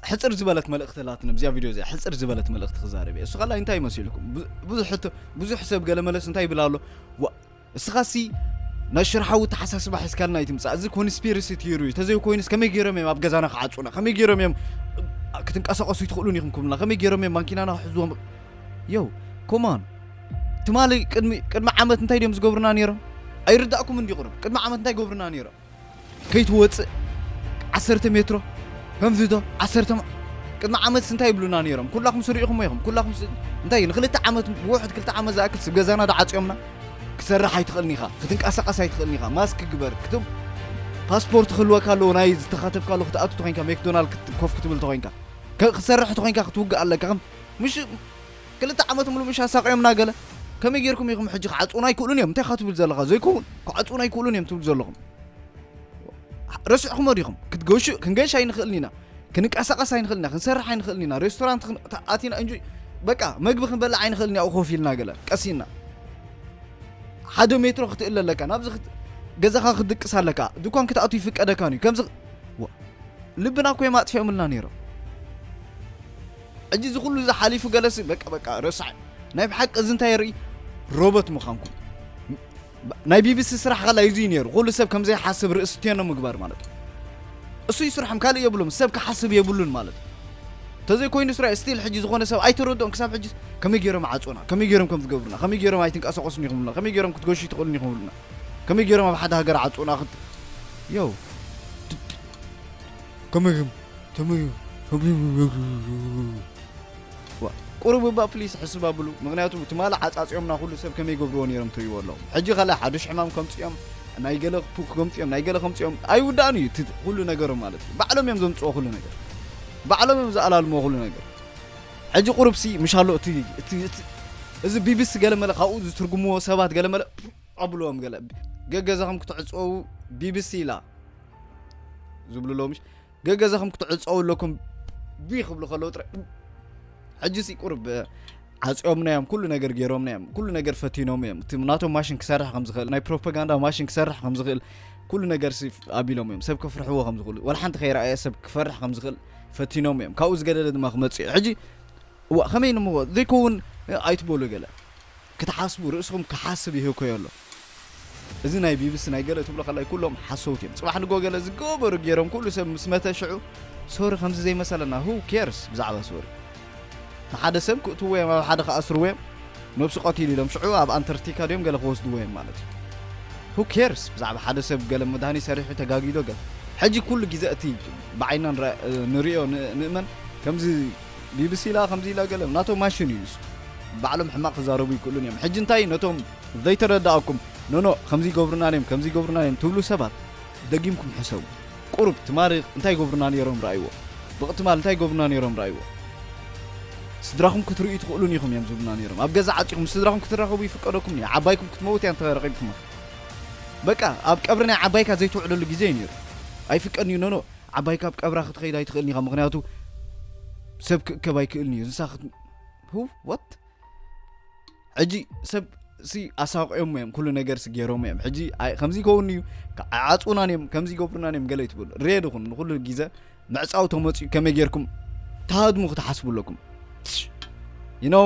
ሕጽር ዝበለት መልእኽቲ ኣላትኒ ብዚኣ ቪድዮ እዚኣ ሕጽር ዝበለት መልእኽቲ ክዛረብ እየ እሱ ካላይ እንታይ መሲልኩም ብዙሕ ብዙሕ ሰብ ገለ መለስ እንታይ ይብል ኣሎ እስኻሲ ናይ ሽርሓዊ ተሓሳስባ ሕዝካልና ይትምፃእ እዚ ኮንስፒሪሲ ትይሩ እዩ ተዘይኮይኑስ ከመይ ገይሮም እዮም ኣብ ገዛና ክዓፁና ከመይ ገይሮም እዮም ክትንቀሳቀሱ ይትኽእሉን ኢኹም ክብሉና ከመይ ገይሮም እዮም ማንኪናና ክሕዝዎም የው ኮማን ትማሊ ቅድሚ ዓመት እንታይ ድዮም ዝገብሩና ነይሮም ኣይርዳእኩም እንዲ ቅሩብ ቅድሚ ዓመት እንታይ ገብሩና ነይሮም ከይትወጽእ ዓሰርተ ሜትሮ ከምዚዶ ዓሰርተ መ- ቅድሚ ዓመትስ እንታይ ይብሉና ነይሮም ኩላኹምስ ርኢኹሞ ኢኹም ኩላኹምስ እንታይ ንክልተ ዓመት ብውሕድ ክልተ ዓመት ዝኣክል ስብ ገዛና ዳዓጽዮምና ክትሰርሕ ኣይትኽእልን ኢኻ ክትንቀሳቐስ ኣይትኽእልን ኢኻ ማስክ ግበር ክትም ፓስፖርት ክህልወካ ኣለዎ ናይ ዝተኻተብካሉ ክትኣቱ ተኮይንካ ሜክዶናልድ ክት- ኮፍ ክትብል ተኮይንካ ከ- ክትሰርሕ ተኮይንካ ክትውግእ ኣለካ ከም ምሽ ክልተ ዓመት ምሉእ ምሽ ኣሳቅዮምና ገለ ከመይ ጌርኩም ኢኩም ሕጂ ክዓጽዉና ኣይክእሉን እዮም እንታይ ኢካ ትብል ዘለካ ዘይከውን ክዓጽዉና ኣይክእሉን እዮም ትብሉ ዘለኩም ረሲዕኩሞ ዲኩም ክትገሹ ክንገሽ ኣይንክእልን ኢና ክንቀሳቀስ ኣይንክእልን ኢና ክንሰርሕ ኣይንክእልን ኢና ሬስቶራንት ኣቲና እንጂ በቃ መግቢ ክንበልዕ ኣይንክእልን ያኡ ኮፍ ኢልና ገለ ቀሲና ሓደ ሜትሮ ክትእለ ኣለካ ናብዚ ገዛኻ ክትድቅስ ኣለካ ድኳን ክትኣቱ ይፍቀደካን እዩ ከምዚ ልብና እኮ እዮም ኣጥፊኦምልና ነይሮም ሕጂ እዚ ኩሉ እዚ ሓሊፉ ገለሲ በቃ በቃ ረሳዕ ናይ ብሓቂ እዚ እንታይ የርኢ ሮቦት ምዃንኩም ናይ ቢቢሲ ስራሕ ኸላ እዚ እዩ ነይሩ ኩሉ ሰብ ከም ዘይሓስብ ርእሲ ቴኖ ምግባር ማለት እዩ እሱ እዩ ስርሖም ካልእ የብሎም ሰብ ክሓስብ የብሉን ማለት ተዘይ ኮይኑ ስራ ስቲል ሕጂ ዝኾነ ሰብ ኣይተረድኦም ክሳብ ሕጂ ከመይ ገይሮም ዓጾና ከመይ ገይሮም ከም ዝገብሩና ከመይ ገይሮም ኣይትንቀሳቀሱን ኢኹም ብሉና ከመይ ገይሮም ክትገሹ ይትኽእሉን ኢኹም ብሉና ከመይ ገይሮም ኣብ ሓደ ሃገር ዓጾና ዮ ከምዝም ተመዩ ቁሩብ እባ ፕሊስ ሕስብ ኣብሉ ምክንያቱ ትማሊ ዓጻጺኦምና ኩሉ ሰብ ከመይ ይገብርዎ ነይሮም ትሪእዎ ኣለኹም ሕጂ ካልእ ሓዱሽ ሕማም ከምጽኦም ናይ ገለ ክፉ ከምጽኦም ናይ ገለ ከምጽኦም ኣይውዳእን እዩ እቲ ኩሉ ነገሮም ማለት እዩ ባዕሎም እዮም ዘምጽዎ ኩሉ ነገር ባዕሎም እዮም ዝኣላልምዎ ኩሉ ነገር ሕጂ ቁሩብሲ ምሽ ኣሎ እቲ እቲ- እቲ- እዚ ቢቢሲ ገለመለ ካብኡ ዝትርጉምዎ ሰባት ገለመለ ኣብልዎም ገለ ገገዛኹም ክትዕጽወው ቢቢሲ ኢላ ዝብሉ ኣለዉ ምሽ ገገዛኹም ክትዕፀው ኣለኩም ብ ክብሉ ከለዉ ጥራይ ሕጂሲ ቁርብ ዓፂኦምና እዮም ኩሉ ነገር ገይሮምና እዮም ኩሉ ነገር ፈቲኖም እዮም እቲ ናቶም ማሽን ክሰርሕ ከም ዝኽእል ናይ ፕሮፓጋንዳ ማሽን ክሰርሕ ከም ዝኽእል ኩሉ ነገር ሲ ኣቢሎም እዮም ሰብ ክፍርሕዎ ከም ዝኽእሉ ዋላ ሓንቲ ከይረኣየ ሰብ ክፈርሕ ከም ዝኽእል ፈቲኖም እዮም ካብኡ ዝገደደ ድማ ክመፅእ እዩ ሕጂ እዋ ከመይ ንሞ ዘይከውን ኣይትበሉ ገለ ክትሓስቡ ርእስኹም ክሓስብ ይህኮዮ ኣሎ እዚ ናይ ቢብሲ ናይ ገለ ትብሎ ከላይ ኩሎም ሓሰውቲ እዮም ጽባሕ ንግሆ ገለ ዝገበሩ ጌሮም ኩሉ ሰብ ምስ መተ ሽዑ ሶሪ ከምዚ ዘይመሰለና who cares ብዛዕባ ሶሪ ንሓደ ሰብ ክእትዎ እዮም ኣብ ሓደ ክኣስርዎ እዮም ነብሱ ቀቲሉ ኢሎም ሽዑ ኣብ ኣንተርቲካ ድዮም ገለ ክወስድዎ እዮም ማለት እዩ who cares ብዛዕባ ሓደ ሰብ ገለ መድሃኒ ሰሪሑ ተጋጊዶ ገለ ሕጂ ኩሉ ግዜ እቲ ብዓይንና ንሪኦ ንእመን ከምዚ ቢብሲ ኢላ ከምዚ ኢላ ገለ ናቶም ማሽን እዩ ንሱ ባዕሎም ሕማቅ ክዛረቡ ይክእሉን እዮም ሕጂ እንታይ እዩ ነቶም ዘይተረዳኣኩም ኖኖ ከምዚ ይገብሩና ነይም ከምዚ ይገብሩና ነይም ትብሉ ሰባት ደጊምኩም ሕሰቡ ቁሩብ ትማሪ እንታይ ይገብሩና ነይሮም ረኣይዎ ብቅትማል እንታይ ይገብሩና ነይሮም ረኣይዎ ስድራኹም ክትርእዩ ትኽእሉን ኢኹም እዮም ዝብሉና ነይሮም ኣብ ገዛ ዓጺኹም ምስ ስድራኹም ክትራኸቡ ይፍቀደኩም እዩ ዓባይኩም ክትመውት እያ እንተረኺብኩማ በቃ ኣብ ቀብሪ ናይ ዓባይካ ዘይትውዕለሉ ግዜ እዩ ነይሩ ኣይፍቀድን እዩ ኖኖ ዓባይ ካብ ቀብራ ክትኸይድ ኣይትኽእልን ኢኻ ምኽንያቱ ሰብ ክእከብ ኣይክእልን እዩ እንስሳ ክት ህው ወት ሕጂ ሰብ ሲ ኣሳቂኦም እዮም ኩሉ ነገር ሲ ገይሮም እዮም ሕጂ ከምዚ ይከውን እዩ ዓፁናን እዮም ከምዚ ይገብሩናን እዮም ገለ ይትብሉ ሬ ድኹም ንኩሉ ግዘ ምዕፃው ተመፅኡ ከመይ ጌርኩም ተሃድሙ ክትሓስቡ ኣለኩም ይነው